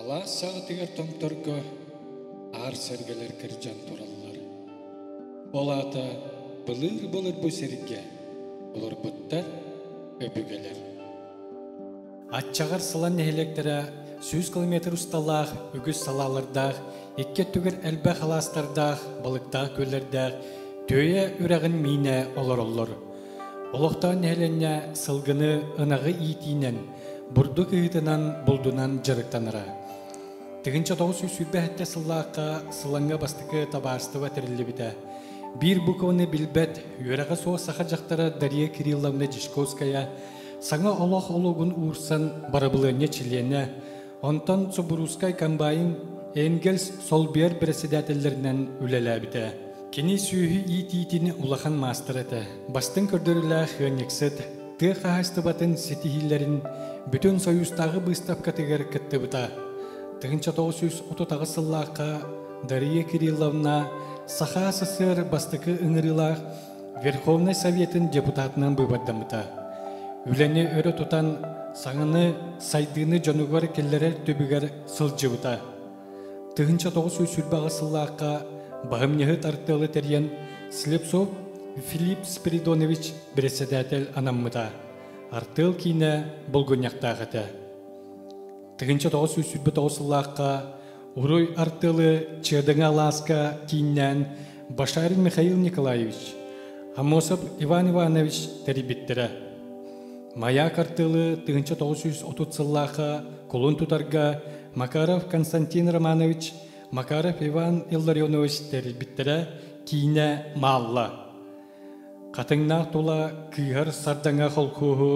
Алаас саҕатыгар томторго аар сэргэлэр кырдьан тураллар. Ол аата былыыр-былыр бу сиргэ олорбуттар өбүгэлэр. Аччаҕар Сылан нэһилиэктэрэ сүүс километр усталаах үгүс салаалардаах, икки өттүгэр элбэх алаастардаах, балыктаах күөллэрдээх Түөйэ үрэҕин миинэ олороллор. Олохтоон нэһилиэнньэ сылгыны ынаҕы иитиинэн, бурдук ыһыытынан, булдунан дьарыктанара. Тыгынча тоҕус сүүс сүүрбэһиттэ сыллаахха Сылаҥҥа бастакы табаарыстыба тэриллибитэ. Биир букваны билбэт үөрэҕэ суох саха дьахтара Дария Кирилловна Дьячковская Саҥа олох олоҕун уурсан барабылыанньа чилиэнэ, онтон Субуруускай комбайн Энгельс солбуйар бэрэссэдээтэллэринэн үлэлээбитэ. Кини сүөһү иитиитин улахан маастар этэ. Бастыҥ көрдөрүүлээх ыанньыксыт, тыа хаһаайыстыбатын ситиһиилэрин Бүтүн Союзтааҕы быыстапкатыгар кыттыбыта. 1930 сыллаахха Дария Кирилловна Саха СССР бастакы ыҥырыылаах Верховнай Советын депутатынан быыбардаммыта. Үлэни өрө тутан, саҥаны, сайдыыны дьонугар киллэрэр түбүгэр сылдьыбыта. Тыһынча тоҕус сүүс сүүрбэҕэ сыллаахха баһымньыһыт артыалы тэрийэн Слепцов Филипп Спиридонович бэрэссэдээтэл анаммыта. Артыал киинэ болгунньахтаах этэ. Тыһынча тоҕус сүүс сүүрбэ тоҕус сыллаахха Уруй артылы Чердыҥа Алааска кииннээн Башарин Михаил Николаевич, Амосов Иван Иванович тэрийбиттэрэ. Маяк артылы тыһынча тоҕус сүүс отут сыллаахха кулун тутарга Макаров Константин Романович, Макаров Иван Илларионович тэрийбиттэрэ киинэ Маалла. Хатыҥнаах тула кыыһар сардаҥа холкуоһу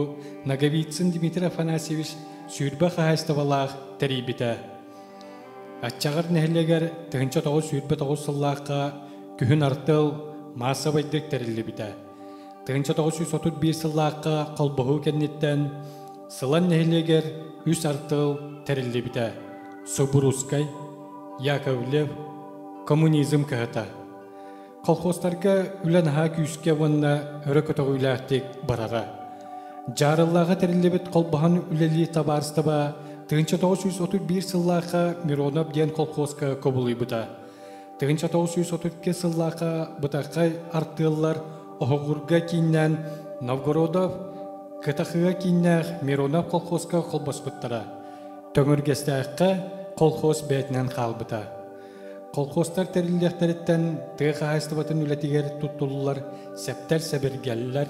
Наговицын Дмитрий Афанасьевич сүүрбэ хаһаайыстыбалаах тэрийбитэ. Аччаҕар нэһилиэгэр тыһынча тоҕус сүүрбэ тоҕус сыллаахха күһүн артыал маассабайдык тэриллибитэ. Тыһынча тоҕус сүүс отут биир сыллаахха холбоһуу кэнниттэн Сылан нэһилиэгэр үс артыал тэриллибитэ. Субурускай, Яковлев, коммунизм кыһата. Колхозтарга үлэ наһаа күүскэ уонна өрө көтөҕүүлээхтик барара. Дьаарыллааҕа тэриллибит холбоһон үлэлии табаарыстаба тыһынча тоҕус сүүс отут биир сыллаахха Миронов диэн колхозка кубулуйбута. Тыһынча тоҕус сүүс отут икки сыллаахха Бытархай артыаллар Оһоҕурга кииннээн Новгородов, Кытахыга кииннээх Миронов колхозка холбоспуттара. Төҥүргэстээххэ колхоз бэйэтинэн хаалбыта. Колхозтар тэриллиэхтэриттэн тыа хаһаайыстыбатын үлэтигэр туттуллар сэптэр-сэбиргэллэр,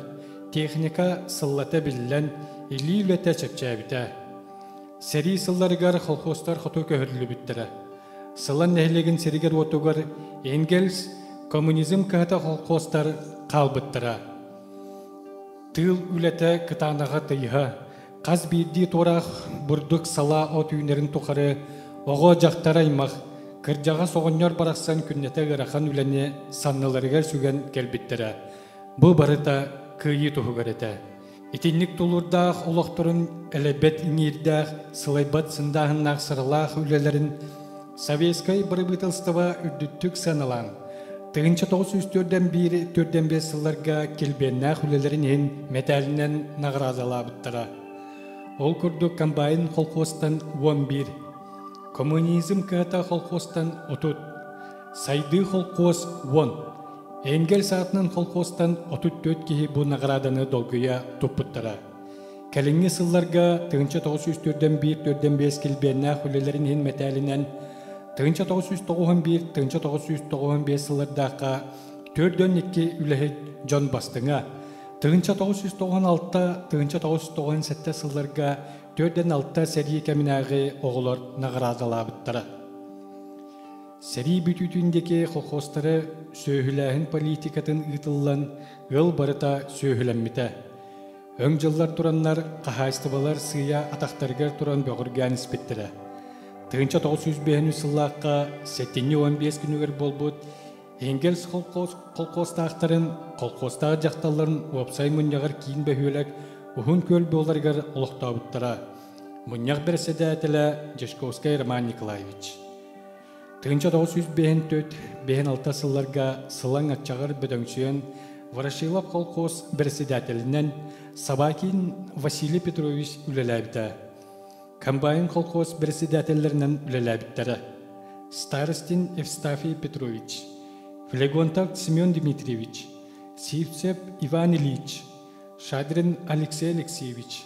техника сыллата биллэн, илии үлэтэ чэпчээбитэ. Сэрии сылларыгар колхозтар хоту көһөрүллүбүттэрэ. Сылан нэһилиэгин сиригэр-уотугар Энгельс коммунизм кыһата колхозтар хаалбыттара. Тыыл үлэтэ кытаанаҕа тыйыһа, Хас биирдии туораах бурдук салаа от үүнэрин тухары оҕо-дьахтар аймах кырдьаҕас оҕонньор барахсан күннэтэ ыарахан үлэни санныларыгар сүгэн кэлбиттэрэ. Бу барыта кыайыы туһугар этэ. Итинник тулурдаах олохторун элэйбэт иҥиирдээх, сылайбат сындааһыннаах сыралаах үлэлэрин Советскай бырабыыталыстыба үрдүктүк саналан, тыһыынча тоҕус сүүс төрдөн биир төрдөн биэс сылларга килбиэннээх үлэлэрин иһин мэтээлинэн наҕараадалаабыттара. Ол курдук комбайн колхозтан уон биир, коммунизм кыһата колхозтан отут, сайдыы колхоз уон, Энгер саатынан колхозтан отут төрт киһи бу наҕарааданы долгуйа туппуттара. Кэлиҥҥи сылларга тыһыынча тоҕус сүүс төрдөн биир төрдөн биэс килбиэннээх үлэлэрин иһин мэтээлинэн тыһыынча тоҕус сүүс тоҕуһун биир тыһыынча тоҕус сүүс тоҕуһун биэс сыллардаахха төрдөн икки үлэһит дьон бастыҥа тыһыынча тоҕус сүүс тоҕуһун алта тыһыынча тоҕус тоҕуһун сэттэ сылларга төрдөн алта сэрии кэминээҕи оҕолор наҕараадалаабыттара сэрии бүтүүтүн диэки колхозтары сүөһүлээһин политикатын ыытыллан ыал барыта сүөһүлэммитэ Өҥ-дьыллар тураннар хаһаайыстыбалар сыыйа атахтарыгар туран бөҕүргээн испиттэрэ. Тыһыынча тоҕус сүүс биэһинчи сыллаахха сэтинньи уон биэс күнүгэр буолбут Энгельс холкуос, холкуостаахтарын, холкуостаах дьахталларын уопсай мунньаҕар киин бөһүөлэк уһун күөл буоларыгар олохтообуттара. Мунньах бэрэссэдээтэлэ Дьячковскай Роман Николаевич Тыһынча тоҕус сүүс бэһин төрт бэһин алта сылларга сылаҥ аччаҕар бөдөҥсүөн Ворошилов колхоз председателинэн Собакин Василий Петрович үлэлээбитэ. Комбайн колхоз председателлэринэн үлэлээбиттэрэ. Старостин Евстафий Петрович, Флегонтов Семен Дмитриевич, Сивцев Иван Ильич, Шадрин Алексей Алексеевич,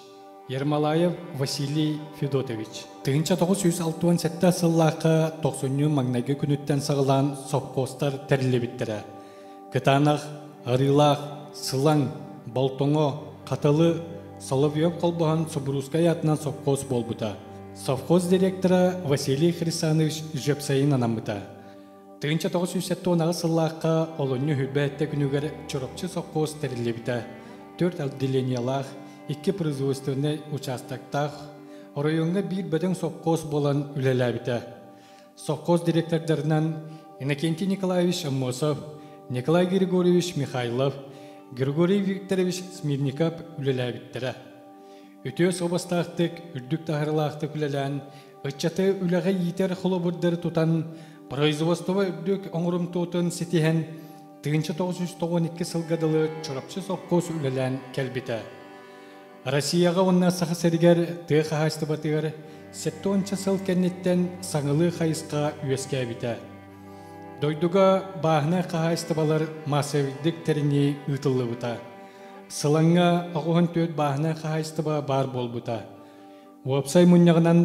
Ермолаев Василий Федотович. Тыһыынча тоҕус сүүс алта уон сэттэ сыллаахха тохсунньу маҥнайгы күнүттэн саҕалаан сопхуостар тэриллибиттэрэ. Кытаанах, Арыылаах, Сылаҥ, Болтоҥо, Хатылы, Соловьев холбоһон Субуруускай аатынан сопхуос буолбута. Совхоз директора Василий Хрисанович Жепсайын анаммыта. Тыгынча 970 сыллаахха олунньу үрбээттэ күнүгэр Чурапчы соххоз тэриллибитэ. Төрт отделениялаах, икки производственнай участоктаах, оройуоҥҥа биир бөдөҥ соххоз буолан үлэлээбитэ. Соххоз директордарынан Иннокентий Николаевич Аммосов, Николай Григорьевич Михайлов, Григорий Викторович Смирников үлэлээбиттэрэ. Үтүө суобастаахтык, үрдүк таһаарылаахтык үлэлээн, Ыччаты үлэҕэ иитэр холобурдары тутан, производство үрдүк оҥорумтуотун ситиһэн, тыынча тоҕус сүүс тоҕон икки сылга дылы Чурапчы сопхуос үлэлээн кэлбитэ. Россияҕа уонна Саха сиригэр тыа хаһаайыстыбатыгар сэттэ уонча сыл кэнниттэн саҥалыы хайысха үөскээбитэ. Дойдуга бааһынай хаһаайыстыбалар массабирдик тэринии ыытыллыбыта. Сылаҥҥа оҕуһун түөрт бааһынай хаһаайыстыба баар буолбута. Уопсай мунньаҕынан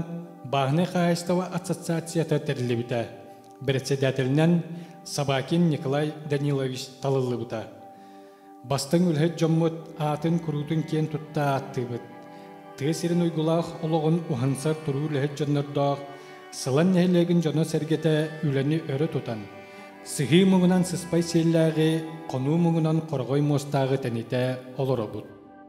бааһынай хаһаайыстыба ассоциацията тэриллибитэ, председателинэн Собакин Николай Данилович талыллыбыта. Бастыҥ үлэһит дьоммут аатын-куруутун киэн тутта ааттыыбыт. Тыа сирин уйгулаах олоҕун уһансар туруу үлэһит дьоннордоох Сылан нэһилиэгин дьоно-сэргэтэ үлэни өрө тутан, сыһыы муҥунан сыспай сиэллээҕи, хонуу муҥунан хороҕой муостааҕы тэнитэ олоробут.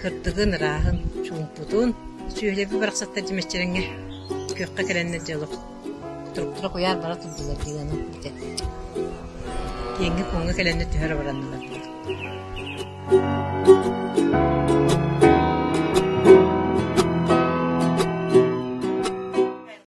Кырдыгын, ырааһын, чуумпутун сүөһүлэрбит барахсаттар дьимэччирэҥҥэ күөххэ кэлэннэр дьэ олох туруктура куйаар бара турдулар дии санаан эттэ. Киэҥҥэ-куоҥҥа кэлэннэр түһэр абыраннылар дии.